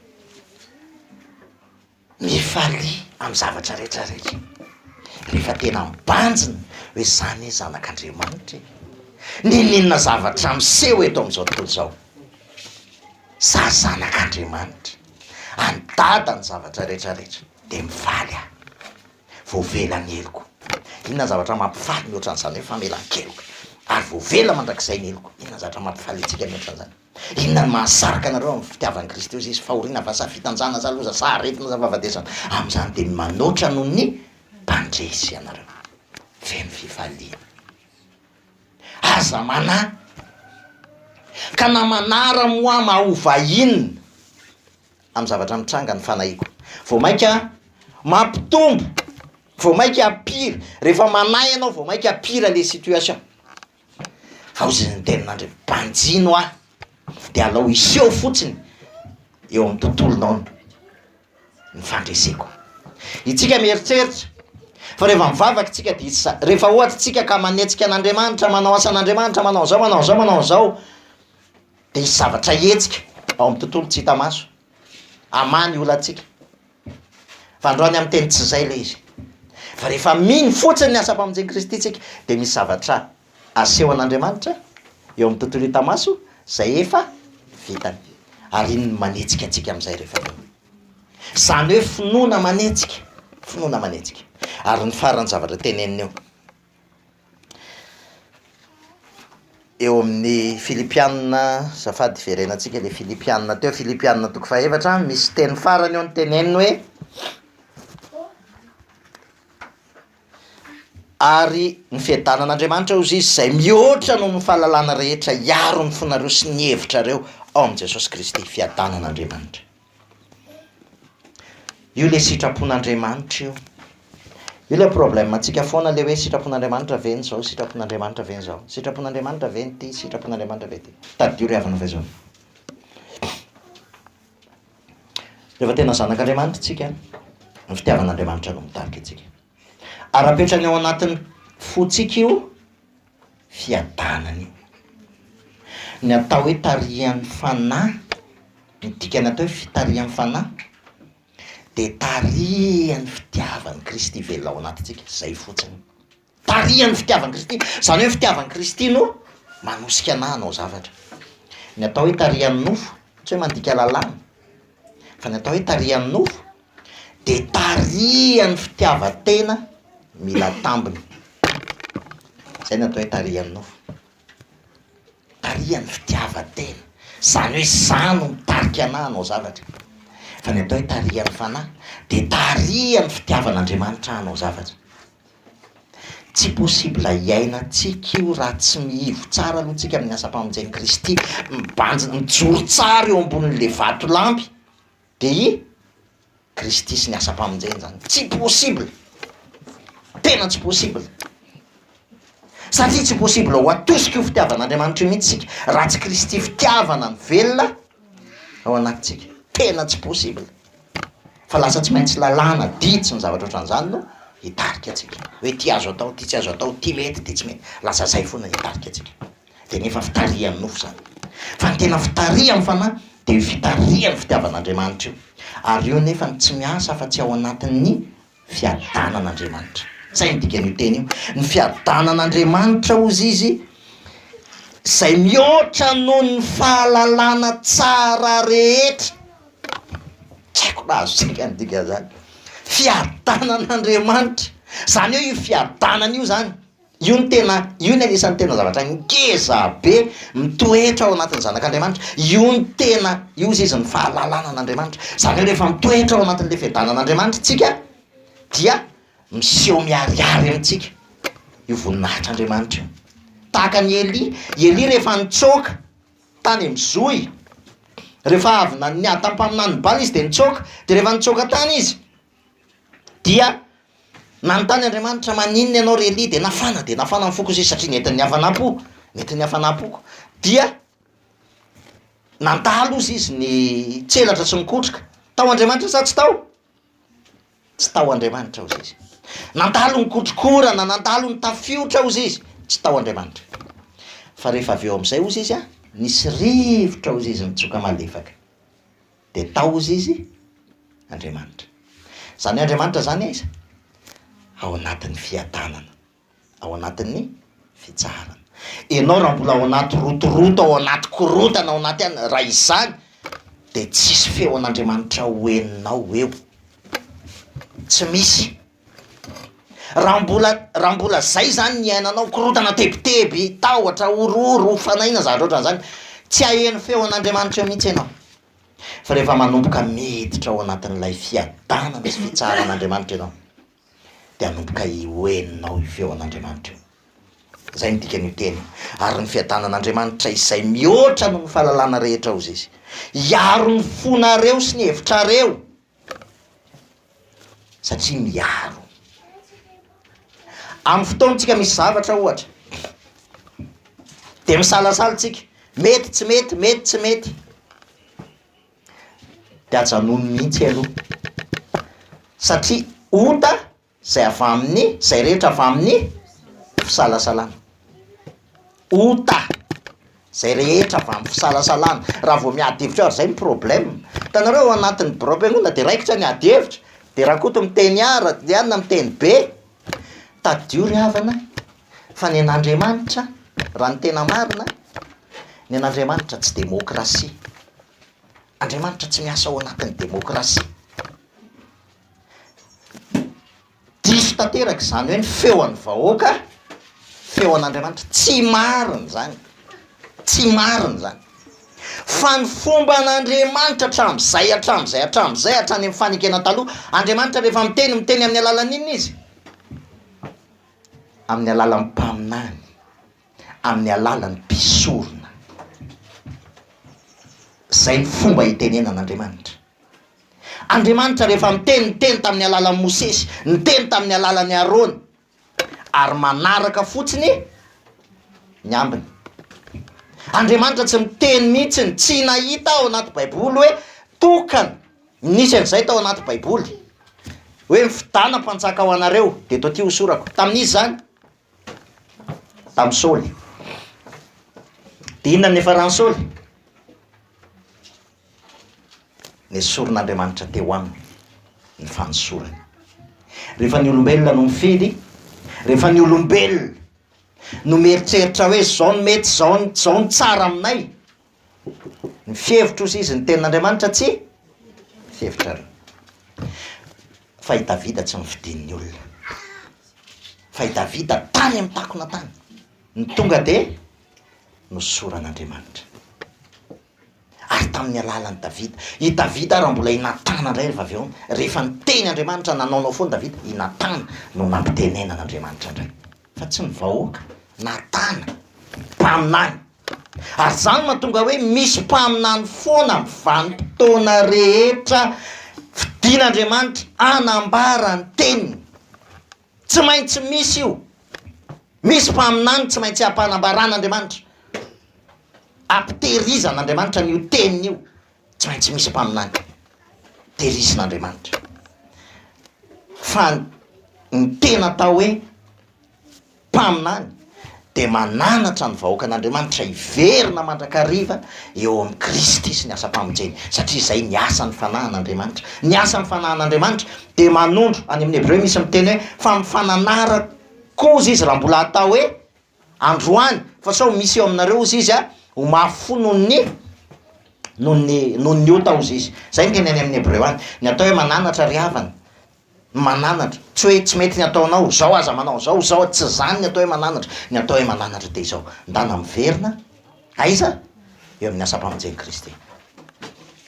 Mifalia amin'ny zavatra rehetra rehetra. Rehefa tena mibanjina hoe za anie zanak'Andriamanitra e. N'inon'inona zavatra miseho eto amin'izao tontolo izao, za zanak'Andriamanitra. An'i Dada ny zavatra rehetra rehetra dia mifaly aho. Voavela ny heloko. Inona ny zavatra mampifaly mihoatra an'izany hoe famelan-keloka? Ary voavela mandrakizay ny heloko. Inona ny zavatra mampifaly antsika mihoatra an'izany? Inona no mahasarika anareo amin'ny fitiavan'i Kristy hoe Izy? Fahoriana va sa fitanjahana sa loza sa aretina sa fahafatesana? Amin'izany dia manoatra noho ny mpandresy ianareo. Feno fifaliana. Aza manahy. Ka na manara-moama ho vahiny. amin'ny zavatra mitranga ny fanahiako. Vao mainka mampitombo, vao mainka pire, rehefa manahy ianao vao mainka pire le situation. Ao izay ny tenin'Andriamanitra, banjino ahy dia alao hiseho fotsiny eo amin'ny tontolonao ny fandreseko. Itsika mieritreritra fa rehefa mivavaka itsika dia hisy sa, rehefa ohatra itsika ka manetsika an'Andriamanitra, manao asan'Andriamanitra, manao an'izao, manao an'izao, manao an'izao, Dia hisy zavatra hihetsika ao amin'ny tontolo tsy hita maso hamaha ny olantsika. Fa androany amin'ny teny tsy izay ilay izy. Fa rehefa mino fotsiny ny asam-pamonjen'i Kristy isika dia misy zavatra asehon'Andriamanitra eo amin'ny tontolo hita maso izay efa vitany. Ary iny no manetsika antsika amin'izay rehefa mino. Izany hoe finoana manetsika, finoana manetsika. Ary ny faran'ny zavatra teneniny eo. Eo amin'ny filipiana, azafady hiverenantsika ilay filipiana teo, filipiana toko fahefatra, misy teny farany ao noteneniny hoe ary ny fiadanan'Andriamanitra hozy izy izay mihoatra noho ny fahalalana rehetra hiaro ny fonareo sy ny hevitrareo ao amin'i Jesosy Kristy, fiadanan'Andriamanitra. Io le sitrapon'Andriamanitra io. Io le problème antsika foana le hoe sitrapon'Andriamanitra ve ny zao, sitrapon'Andriamanitra ve ny zao, sitrapon'Andriamanitra ve ny ty, sitrapon'Andriamanitra ve ty. Tadidio ry havana f'izao. Rehefa tena zanak'Andriamanitra tsika, ny fitiavan'Andriamanitra no mitarika antsika. Ara-petrany ao anatin'ny fontsika io. fiadanana io. Ny atao hoe tarihan'ny fanahy, ny dikany atao hoe fitarihan'ny fanahy dia tarihan'ny fitiavan'i Kristy velona ao anatintsika, zay fotsiny. Tarihan'ny fitiavan'i Kristy, zany hoe ny fitiavan'i Kristy no manosika anah hanao zavatra. Ny atao hoe tarihan'ny nofo, tsy hoe mandika lalàna, fa ny atao hoe tarihan'ny nofo dia tarihan'ny fitiavan-tena mila tambiny. Izay no atao hoe tarihan'ny nofo. Tarihan'ny fitiavan-tena. Izany hoe izaho no mitarika anà hanao zavatra. Fa ny atao hoe tarihan'ny fanahy dia tarihan'ny fitiavan'Andriamanitra ahy hanao zavatra. Tsy possible hiainantsika io raha tsy mihivo tsara aloha tsika amin'ny asam-pamonjen'i Kristy, mibanjina, mijoro tsara eo ambonin'ilay vatolampy. Dia i Kristy sy ny asam-pamonjeny izany. Tsy possible! Tena tsy possible! Satria tsy possible ho atosika io fitiavan'Andriamanitra io mihitsy isika raha tsy Kristy fitiavana mivelona ao anatintsika. Tena tsy possible! Fa lasa tsy maintsy lalàna, didy sy ny zavatra ohatran'izany no hitarika antsika. Hoe ity azo atao, ity tsy azo atao, ity mety, ity tsy mety. Lasa izay foana hitarika antsika. Dia ny efa fitarihan'ny nofo izany. Fa ny tena fitarihan'ny fanahy dia io fitarihan'ny fitiavan'Andriamanitra io. Ary io anefa no tsy miasa afa-tsy ao anatin'ny fiadanan'Andriamanitra. Izay no dikan'io teny io. Ny fiadanan'Andriamanitra, hozy izy, izay mihoatra noho ny fahalalana tsara rehetra. Tsy haiko raha azontsika ny dikan'izany. Fiadanan'Andriamanitra. Izany hoe io fiadanana io izany. Io no tena, io no anisan'ny tena zavatra ngeza be mitoetra ao anatin'ny zanak'Andriamanitra. Io no tena, io hozy izy, ny fahalalana an'Andriamanitra. Izany hoe rehefa mitoetra ao anatin'ilay fiadanan'Andriamanitra isika dia miseho miharihary amintsika io voninahitr'Andriamanitra io. Tahaka an'i Elia, i Elia rehefa nitsoaka tany amin'ny zohy, rehefa avy nanihà tamin'ny mpaminaniny Bala izy dia nitsoaka, dia rehefa nitsoaka tany izy Dia nanontany Andriamanitra, Maninona ianao ry Elia? Dia nafana, dia nafana ny foko izy satria nentin'ny hafanam-po, nentin'ny hafanam-poko. Dia nandalo hozy izy ny tselatra sy ny kotroka. Tao Andriamanitra sa tsy tao? Tsy tao Andriamanitra hozy izy. Nandalo ny kotrokorana, nandalo ny tafiotra hozy izy. Tsy tao Andriamanitra. Fa rehefa avy eo amin'izay hozy izy an, nisy rivotra hozy izy nitsoka malefaka. dia tahozy izy Andriamanitra. Izany hoe Andriamanitra izany aiza? Ao anatin'ny fiadanana, ao anatin'ny fitsaharana. Ianao raha mbola ao anaty rotoroto, ao anaty korontana, ao anaty anona, raha izany dia tsisy feon'Andriamanitra ho henonao eo, tsy misy. Raha mbola raha mbola zay zany ny iainanao, korontana tebiteby, tahotra, horohoro, ho fanaina, zavatra ohatran'izany, tsy haheno feon'Andriamanitra mihitsy ianao. Fa rehefa manomboka miditra ao anatin'ilay fiadanana sy fitsaharan'Andriamanitra ianao, dia hanomboka ho henonao io feon'Andriamanitra io. Izay no dikan'io teny io. Ary ny fiadanan'Andriamanitra izay mihoatra noho ny fahalalana rehetra, hoy izy, hiaro ny fonareo sy ny hevitrareo. satria miaro. Amin'ny fotoantsika misy zavatra ohatra dia misalasala tsika, mety tsy mety, mety tsy mety, dia ajanony mihitsy aloha satria ota izay avy amin'ny, izay rehetra avy amin'ny fisalasalana. Ota, izay rehetra avy amin'ny fisalasalana. Raha vao miady hevitra ary izay ny problème. Hitanareo ao anatin'ny birao am-piangonana dia raikitra ny ady hevitra, dia Rakoto miteny A, Randrianina miteny B, tadidio ry havana fa ny an'Andriamanitra raha ny tena marina, ny an'Andriamanitra tsy demokrasia. Andriamanitra tsy miasa ao anatin'ny demokrasia. Diso tanteraka izany hoe ny feo an'ny vahoaka feo an'Andriamanitra. Tsy marina izany, tsy marina izany. Fa ny fomba an'Andriamanitra hatramin'izay, hatramin'izay, hatramin'izay, hatrany amin'ny fanekena taloha, Andriamanitra rehefa miteny, miteny amin'ny alalan'inona Izy? Amin'ny alalan'ny mpaminany. amin'ny alalan'ny mpisorona. Izay ny fomba itenenan'Andriamanitra. Andriamanitra rehefa miteny, niteny tamin'ny alalan'i Mosesy, niteny tamin'ny alalan'i Arona, ary manaraka fotsiny ny ambiny. Andriamanitra tsy miteny mihitsy ny tsy nahita ao anaty Baiboly hoe tokana, nisy an'izay tao anaty Baiboly, hoe ny fidana mpanjaka ho anareo dia eto aty hosorako. Tamin'iza izany? tamin'i Saoly. Dia inona no niafaran'i Saoly? Nesorin'Andriamanitra teo aminy ny fanesorany. Rehefa ny olombelona no mifidy, rehefa ny olombelona no mieritreritra hoe izao no mety, izao no tsara aminay, Ny fihevitro sy izy ny tenin'Andriamanitra tsy fihevitrareo. Fa i Davida tsy nifidin'ny olona. Fa i Davida tany amin'ny takona tany. Ny tonga dia nosoran'Andriamanitra. Ary tamin'ny alalan'i Davida. I Davida raha mbola i Natana indray rehefa avy eo. Rehefa niteny Andriamanitra nanaonao foana Davida, i Natana no nampitenenan'Andriamanitra indray. Fa tsy ny vahoaka. Natana, mpaminany. Ary izany mahatonga hoe misy mpaminany foana amin'ny vanim-potoana rehetra fidin'Andriamanitra hanambara ny teniny. Tsy maintsy misy io. Misy mpaminany tsy maintsy ampanambaran'Andriamanitra. Ampitehirizan'Andriamanitra an'io teniny io. Tsy maintsy misy mpaminany. Tehirizin'Andriamanitra. Fa ny tena atao hoe Mpaminany, dia mananatra ny vahoakan'Andriamanitra hiverina mandrakariva eo amin'i Kristy sy ny asam-pamonjeny, satria izay ny asan'ny fanahin'Andriamanitra. Ny asan'ny fanahin'Andriamanitra dia manondro, any amin'ny hebreo misy miteny hoe, fa ny fananara koa hozy izy raha mbola hatao hoe androany, fa sao misy eo aminareo hozy izy ho mafy fo noho ny noho ny noho ny ota hozy izy. Izay ny teny any amin'ny hebreo any. Ny atao hoe mananatra ry havana Mananatra, tsy hoe tsy mety ny ataonao, zao aza manao zao, zao a, tsy zany ny atao hoe mananatra, ny atao hoe mananatra dia izao, ndana miverina, aiza? eo amin'ny asam-pamonjen'i Kristy,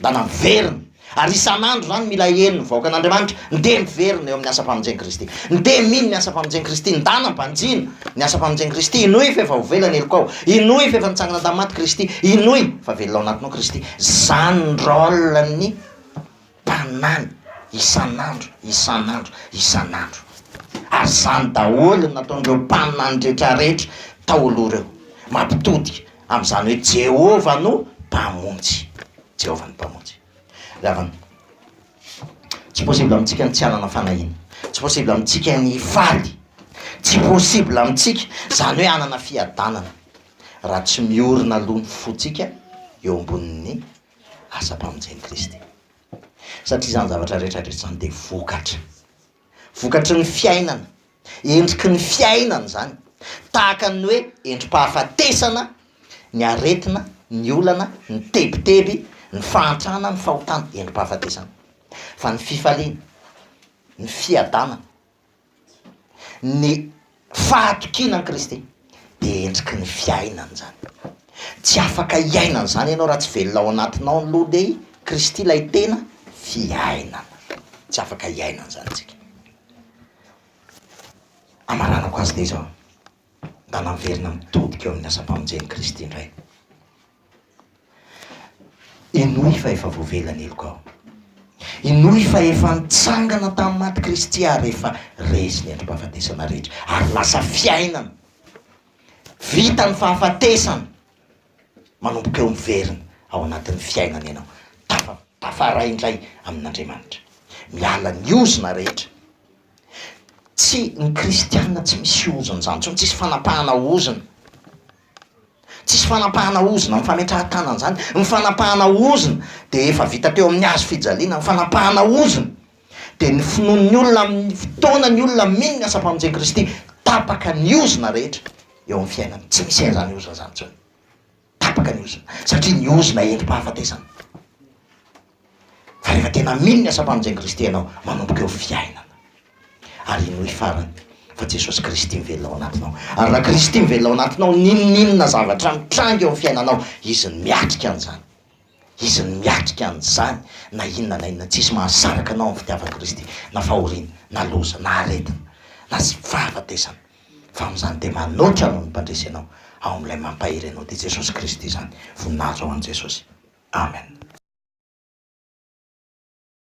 ndana miverina, ary isan'andro zany mila heno ny vahoakan'Andriamanitra, ndeha miverina eo amin'ny asam-pamonjen'i Kristy, ndeha mino ny asam-pamonjen'i Kristy, ndana mbanjino ny asam-pamonjen'i Kristy, hinoy f'efa ho vela ny helokao, hinoy f'efa nitsangana tamin'ny maty Kristy, hinoy fa velona ao anatinao Kristy, zany ny rôle-n'ny. tanàna isan'andro, isan'andro, isan'andro. Ary izany daholo no nataon'ireo mpaminany rehetrarehetra tao aloha ireo, mampitodika amin'izany hoe Jehovah no Mpamonjy, Jehovah no Mpamonjy. Ry havana, tsy possible amintsika ny tsy hanana fanahiana, tsy possible amintsika ny hifaly, tsy possible amintsika izany hoe hanana fiadanana, raha tsy miorina aloha ny fontsika eo ambonin'ny asa mpamonjen'i Kristy. Satria izany zavatra rehetra rehetra izany dia vokatra. Vokatry ny fiainana, endriky ny fiainana izany. Tahaka ny hoe endri-pahafatesana ny aretina, ny olana, ny tebiteby, ny fahantrana, ny fahotana, endri-pahafatesana. Fa ny fifaliana, ny fiadanana, ny fahatokiana an'i Kristy dia endriky ny fiainana izany. Tsy afaka hiaina an'izany ianao raha tsy velona ao anatinao ny loha dia i Kristy ilay tena fiainana. Tsy afaka hiaina an'izany isika. Hamaranako azy dia izao, mba naverina mitodika eo amin'ny asam-pamonjen'i Kristy indray. Henoy fa efa voavela ny heloka ao. Henoy fa efa nitsangana tamin'ny maty Kristy ary efa resy ny andrim-pahafatesana rehetra ary lasa fiainana. Vita ny fahafatesana. Manomboka eo miverina ao anatin'ny fiainana ianao. Tafa, tafaray indray amin'Andriamanitra. Miala ny ozona rehetra. Tsy, ny kristiana tsy misy ozon-jany intsony, tsisy fanapahana ozona. Tsisy fanapahana ozona ny fametrahan-tàna an'izany. Ny fanapahana ozona dia efa vita teo amin'ny hazo fijaliana. Ny fanapahana ozona dia ny finoan'ny olona amin'ny fotoana ny olona mino ny asam-pamonjen'i Kristy. Tapaka ny ozona rehetra eo amin'ny fiainany. Tsy misy an'izany ozona izany intsony. Tapaka ny ozona, satria ny ozona endri-pahafatesana. Fa rehefa tena mino ny asam-pamonjen'i Kristy ianao, manomboka eo fiainana. Ary henoy farany fa Jesosy Kristy mivelona ao anatinao. Ary raha Kristy mivelona ao anatinao, n'inon'inona zavatra mitranga eo amin'ny fiainanao, Izy no miatrika an'izany. Izy no miatrika an'izany na inona na inona. Tsisy mahasaraka anao amin'ny fitiavan'i Kristy, na fahoriana, na loza, na aretina, na tsy fahafatesana. fa amin'izany dia manoatra anao ny mpandresy anao ao amin'ilay mampahery anao dia Jesosy Kristy izany, voninahitra ho an'i Jesosy, Amen.